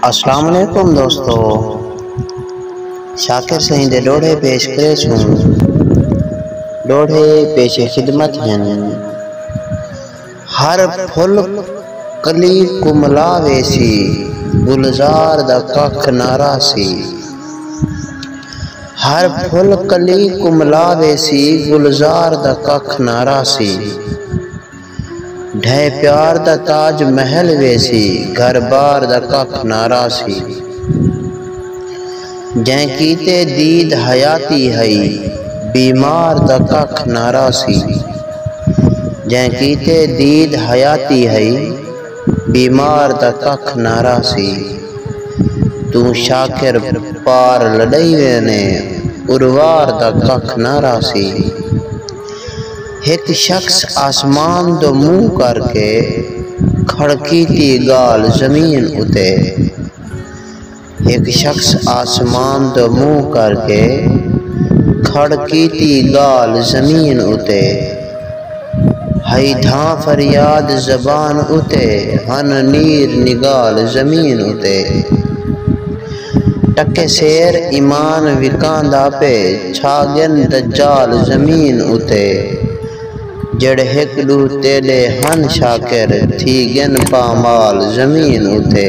السلام علیکم دوستو شاکر سائیں دے ڈوڑھے پیش کرے سوں ڈوڑھے پیش خدمت ہیں ہر پھل کلی کو ملا ویسی گلزار دا کاکھ نارا سی ہر پھل کلی کو ملا ویسی گلزار دا کاکھ نارا سی ڈھہے پیار دا تاج محل ویسی گھر بار دا ککھ نہ راہسی جئیں کیتے دید حیاتی ہئی بیمار دا ککھ نہ راہسی جئیں کیتے دید حیاتی ہئی بیمار دا ککھ نہ راہسی توں شاکر پار لڈئی وینے اروار دا ککھ نہ راہسی۔ ہک شخص آسمان دو منہ کر کے کھڑکیتی گالھ زمین اتے ہک شخص آسمان دو منہ کر کے کھڑکیتی گالھ زمین اتے ہئی دھاں فریاد زبان اتے ہن نیر نگال زمین اتے۔ ٹکے سیر ایمان وکاندا پئے چھا ڳن دجال زمین اتے جیڑھے ہک ݙو تیݙے ہن شاکر تھی ڳن پامال زمین اتے۔